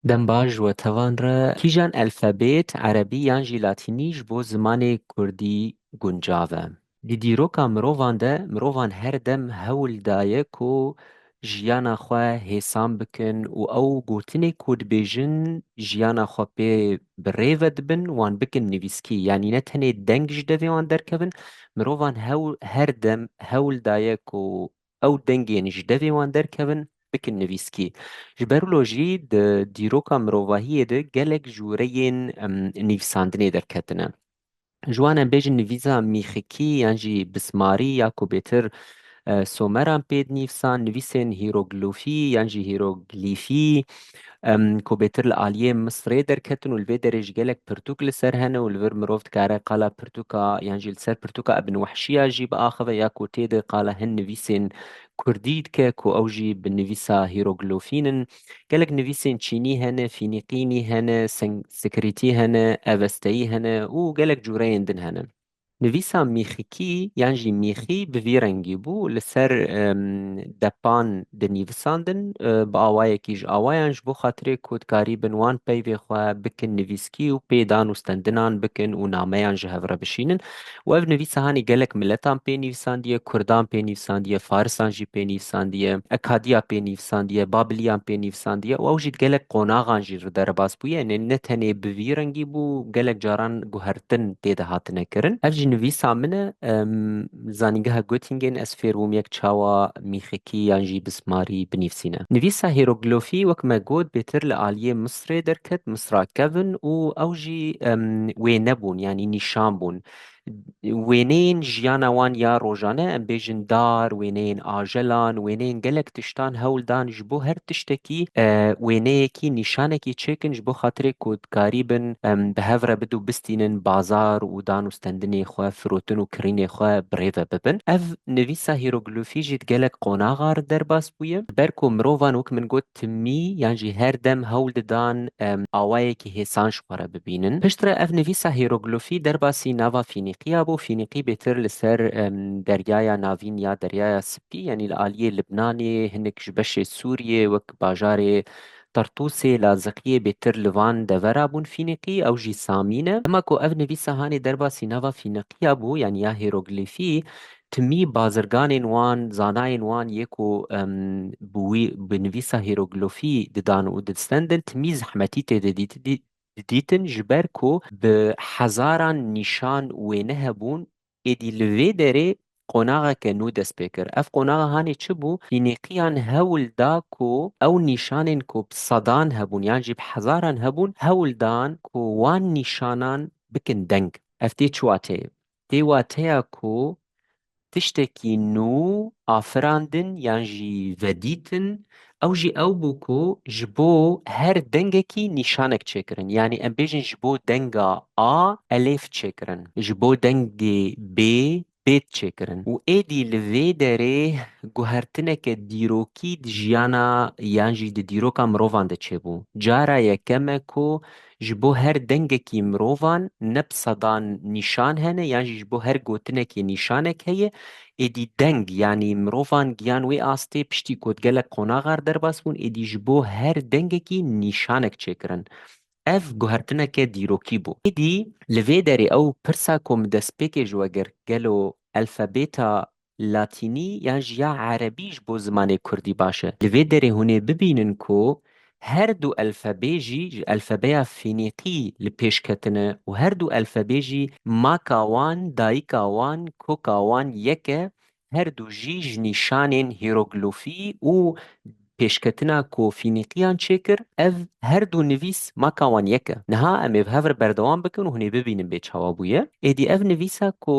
Dem baş we tevan re. Kîjan elfabet, erebî yan jî latînî ji bo zimanê kurdî guncav e? Di dîroka mirovan de, mirovan her dem hewl daye ku jiyana xwe hêsan bikin û ew gotinê ku dibêjin jiyana xwe pê bi rê ve dibin wan bikin nivîskî. Yanî ne tenê deng ji devê wan derkevin, mirovan hewl her dem hewl daye ku ew dengên ji devê wan derkevin bikin nivîskî. Ji ber wilo jî di dîroka mirovahiyê de gelek jûreyên nivîsandinê derketine. Ji wan em bêjin nivîsa mîxikî yan jî bismarî ya ku bêtir Someran pê dinivîsan, nivîsên hîroglofî yan jî hîroglîfî, ku bêtir li aliyê Misirê derketin û li vê derê jî gelek pirtûk li ser hene û li vir mirov dikare qala pirtûka yan jî li ser pirtûka Ibn Wehşîya jî biaxive ya ku tê de qala hin nivîsên Kurdî dike ku ew jî bi nivîsa hîroglofîn in. Gelek nivîsên Çînî hene, Fînîqînî hene, Senskirîtî hene, Evesteyî hene û gelek cureyên din hene. Nivîsa mîxikî yan jî mîxî bi vî rengî bû, li ser depan dinîvisandin, bi awayekî ji awayan ji bo xatirê ku dikarî bin wan peyvê xwe bikin nivîskî û pê dan û stendinan bikin û nameyan ji hev re bişînin û ev nivîsa hanî gelek miletan pê nivîsandiye, kurdan pê nivîsandiye, farisan jî pê nivîsandiye, ekadiya pê nivîsandiye, babiliyan pê nivîsandiye û ew jî di gelek qonaxan jî. ji we derbas bûye ne ne tenê bi vî rengî bû gelek caran guhertin tê de hatine kirin. Ev jî nivîsa min e. Li zanîngeha Göttingen ez fêr bûm yek çawa mîxikî yan jî bismarî binivîsîne. Nivîsa hîroglofî wek me got bêtir li aliyê Misrê derket, Misra kevin û ew jî wê nebûn yanî nîşan bûn. Wêneyên jiyana wan ya rojane, em bêjin dar, wêneyên ajelan, wêneyên gelek tiştan hewl dan ji bo her tiştekî wêneyekî, nîşanekî çêkin ji bo xatirê ku dikarî bin em bi hev re bidû bistînin bazar û dan û stendinê xwe, firotin û kirînê xwe bi rê ve bibin. Ev nivîsa hîroglîfî jî di gelek qonaxa re derbas bûye. Ji ber ku mirovan wek min got timî yan jî her dem hewl didan awayekî hêsan ji xwe re bibînin. Piştre ev nivîsa hîroglîfî derbasî nava Fînîqîya bû. Fînîqî bêtir li ser Deryaya Navîn ya Deryaya Spî yanî li aliyê Libnanê, hinek ji beşê Sûriyê wek bajarê Tartûsê, Laziqiyê bêtir li van devera bûn Fînîqî, ew jî Samî ne. Dema ku ev nivîsa hanê derbasî nava Fînîqîya bû yanî ya hîroglîfî Timî bazirganên wan, zanayên wan yê ku bi wî bi nivîsa hîroglîfî didan û distendin timî zehmetî tê de didîtin ji ber ku bi hezaran nîşan wêne hebûn. Êdî li vê derê qonaxeke nû dest pê kir. Ev qonax hanê çi bû? Fînîqiyan hewl da ku ew nîşanên ku bi sedan hebûn yan jî bi hezaran hebûn hewl dan ku wan nîşanan bikin deng. Ev tê çiwa tê? Dê wateya ku tiştekî nû afirandin yan jî vedîtin ew jî ew bû ku ji bo her dengekî nîşanek çêkirin. Yanî em bêjin ji bo denga A elêf çêkirin, ji bo dengê B bêd çêkirin û êdî li vê derê guhertineke dîrokî di jiyana yan jî di dîroka mirovan de çêbû. Cara yekeme ku Ji bo her dengekî mirovan ne bi sedan nîşan hene yan jî ji bo her gotinekê nîşanek heye. Êdî deng yanî mirovan giyan wê astê piştî ku di gelek qonaxar derbas bûn êdî ji bo her dengekî nîşanek çêkirin. Ev guhertineke dîrokî bû. Êdî li vê derê ew pirsa ku min destpêkê ji we girt gelo elfabeta Latînî yan jî ya Erebî ji bo zimanê Kurdî baş e. Li vê derê hûn ê bibînin ku her du elfebê jî ji elfebeya Fînîqî li pêş ketine û her du elfebê jî maka wan, dayika wan, koka wan yek e, her du jî ji nîşanên hîroglofî û pêşketina ku Fînîqîyan çê kir, ev her du nivîs maka wan yek e. Niha em ê bi hev re berdewam bikin û hûn ê bibînin bê çawa bûye. Êdî ev nivîsa ku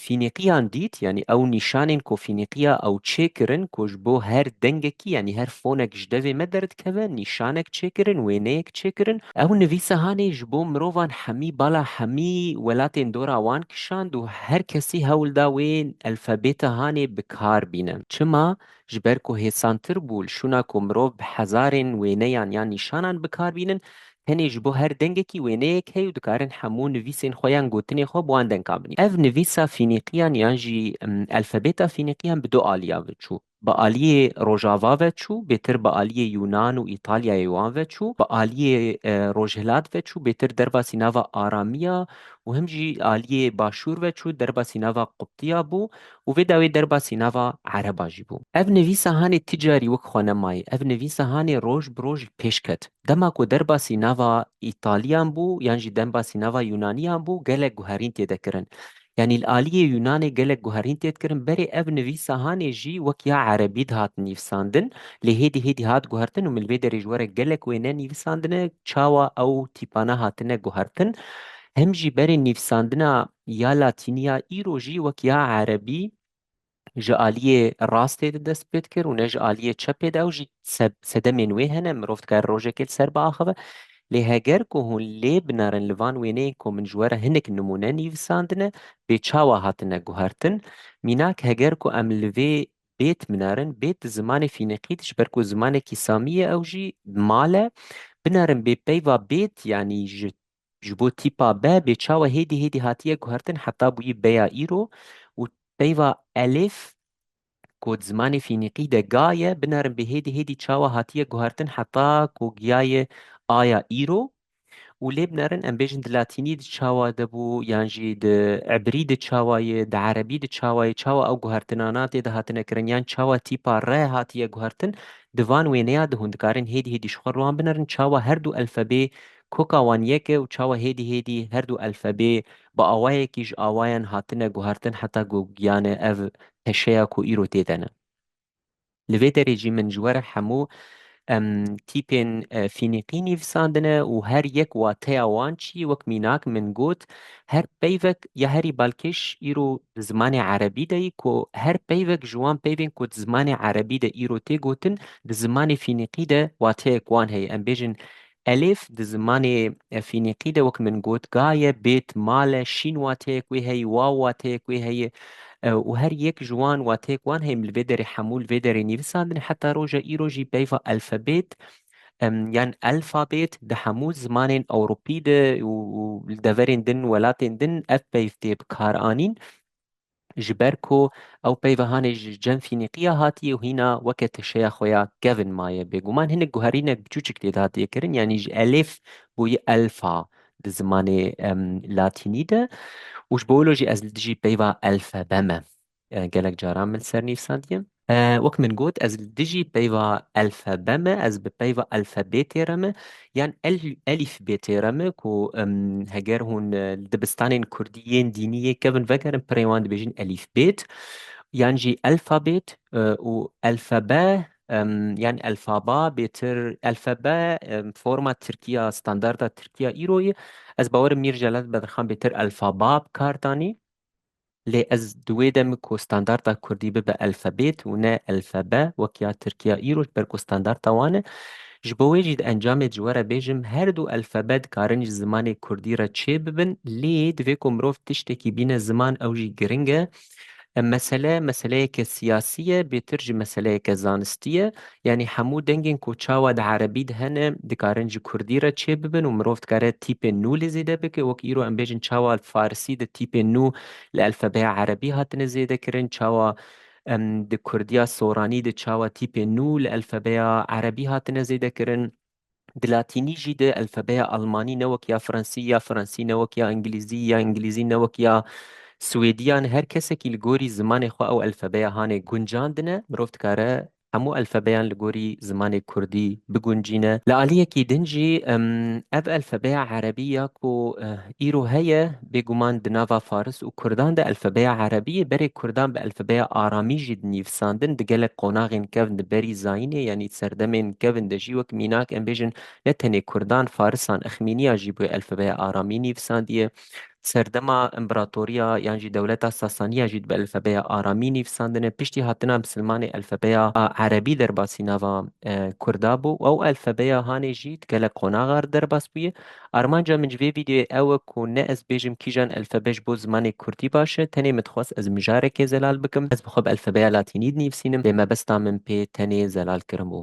Fînîqiyan dît, yanî ew nîşanên ku fînîqiya ew çêkirin ku ji bo her dengekî yanî her fonek ji devê me derdikeve nîşanek çêkirin, wêneyek çêkirin. Ew nivîsehanê ji bo mirovan hemî bala hemî welatên dora wan kişand û her kesî hewl da wê elfabêtehanê bi kar bîne. Çima? Ji ber ku hêsantir bû li şûna ku mirov bi hezarên wêneyan yan nîşanan bi kar bînin, Tenê ji bo her dengekî wêneyek heye û dikarin hemû nivîsên xwe yan gotinên xwe bi wan denkan binîn. Ev nivîsa Fînîqiyan yan jî elfebeta Fînîqiyan bi du aliyan ve çû. Bi aliyê rojava ve çû, bêtir bi aliyê Yûnan û Îtalyayê wan ve çû, bi aliyê rojhilat ve çû, bêtir derbasî nava Aramiya û him jî aliyê başûr ve çû, derbasî nava Quptiya bû û vê dawê derbasî nava Ereba jî bû. Ev nivîsa hanê ti carî wek xwe nemayî, ev nivîsa hanê roj bi roj pêş ket. Dema ku derbasî nava Îtalîyan bû yan jî denbasî nava Yûnanîyan bû gelek guherîn tê de kirin. Yanî li alîyê Yûnanê gelek guherîn tê dikirin berê ev nivîsa hanê jî wek ya Erebî dihat nîvsandin lê hêdî hêdî hat guhertin û min li vê derê ji were gelek wêne nîvîsandine çawa ew tîpane hatine guhertin hem jî berê nivîsandina ya latînî ya îro jî wek ya erebî ji aliyê rastê de dest pê dikir û ne ji aliyê çepê de ew jî sedemên wê hene mirov dikare rojekê li ser biaxive lê heger ku hûn lê binerin li van wêneyên ku min ji we re hinek nimûne nivîsandine bê çawa hatine guhertin mînak heger ku em li vê bêt binerin bêt di zimanê fînîqî de ji ber ku zimanekî samî ye ew jî mal e binerin bê peyva bêt yanî ji Ji bo tîpa be bê çawa hêdî hêdî hatiye guhertin heta bûyî beya îro û peyva elif ku di zimanê fînîqî de ga ye binerin bê hêdî hêdî çawa hatiye guhertin heta ku giyayê aya îro û lê binerin em bêjin di latînî di çawa de bû yan jî di ebrî di çawa ye di erebî di çawa ye çawa ew guhertinana tê de hatine kirin yan çawa tîpa re hatiye guhertin di van wêneya de hûn dikarin hêdî hêdî ji xwe riwan binerin çawa her du elfebê Koka wan yek e û çawa hêdî hêdî her du elfebê bi awayekî ji awayan hatine guhartin heta ku giyane ev teşeya ku îro tê de ne. Li vê derê jî min ji were hemû em tîpên fînîqî nivîsandine û her yek wateya wan çi yî wek mînak min got her peyvek ya herî balkêş îro di zimanê erebî de yî ku her peyvek ji wan peyvên ku di zimanê erebî de îro tê gotin di zimanê fînîqî de wateyek wan heye em bêjin Elêf di zimanê Fînîqî de wek min got gaye, bêt, male, şîn wateyek wê heye, waw wateyek wê heye û her yek ji wan wateyek wan heye em li vê derê hemû li vê derê nivîsandin heta roja îro jî peyva elfebêt yan elfabêt di hemû zimanên ewropî de û li deverên din welatên din ev peyv tê bikaranîn. ji ber ku ew peyva hanê ji cem Fînîqîya hatiye û hîna weke teşeya xwe ya kevn maye. Bêguman hinek guherînek biçûçik lê dihatiye kirin yanî ji elif bûye elfa di zimanê latînî de û ji bo wilo jî ez li dijî peyva elfebe me gelek caran min sernîvsandiye. Wek min got ez li dijî peyva elfebe me, ez bi peyva elfebê tê re me yan elîfbê tê re me ku heger hûn li dibistanên kurdî yên dînî yê kevin vegerin pirê wan dibêjin elîfbêt yan jî elfabêt û elfebe yan elfaba bêtir elfebe forma tirkî ya standarda tirkî ya îro ye. Ez bawer im Mîr Celal Bedirxan bêtir elfaba bi kar danî. Lê ez di wê demê ku standarta kurdî bibe elfabêt û ne elfebe wek ya tirkiya îro ji ber ku standarta wan e, ji bo wê jî di encamê de ji we re bêjim her du elfebe dikarin ji zimanê kurdî re çê bibin lê divê ku mirov tiştekî bîne ziman ew jî giring e. Em mesele meseleyeke siyasî ye bêtir jî meseleyeke zanistî ye. Yanî hemû dengên ku çawa di erebî de hene dikarin ji kurdî re çê bibin û mirov dikare tîpên nû li zêde bike. Wek îro em bêjin çawa li farisî de tîpên nû li elfebeya erebî hatine zêde kirin, çawa di kurdiya soranî de çawa tîpên nû li elfebeya erebî hatine zêde kirin. Di latînî jî de elfebeya almanî ne wek ya fransî ya fransî ne wek ya îngilîzî ya îngilîzî ne wek ya swêdî yan her kesekî li gorî zimanê xwe ew elfebeya hanê guncandine mirov dikare hemû elfebeyan li gorî zimanê kurdî biguncîne. Li aliyekî din jî ev elfebeya erebî ya ku îro heye, Bêguman di nava faris û kurdan de elfebeya erebiyê berê kurdan bi elfebeya aramî jî dinîvisandin di gelek qonaxên kevn di berî zayînê yanî serdemên kevn de jî wek mînak em bêjin ne tenê kurdan farisan exmîniya jî bi elfebeya aramî nîvisandiye serdema împeratoriya yan jî dewleta sasaniya jî bi elfebeya aramî nîvisandine piştî hatina misilmanê elfebeya erebî derbasî nava kurda bû ew elfebeya hanê jî di gelek qonaxar derbas bûye. Armanca min ji vê vîdeoyê ew e ku ne ez bêjim kîjan elfebe ji bo zimanê kurdî baş e, tenê min dixwest ez mijarekê zelal bikim. Ez bi xwe bi elfebeya latînî dinîvsînim lê mebesta min pê tenê zelal kirin bû.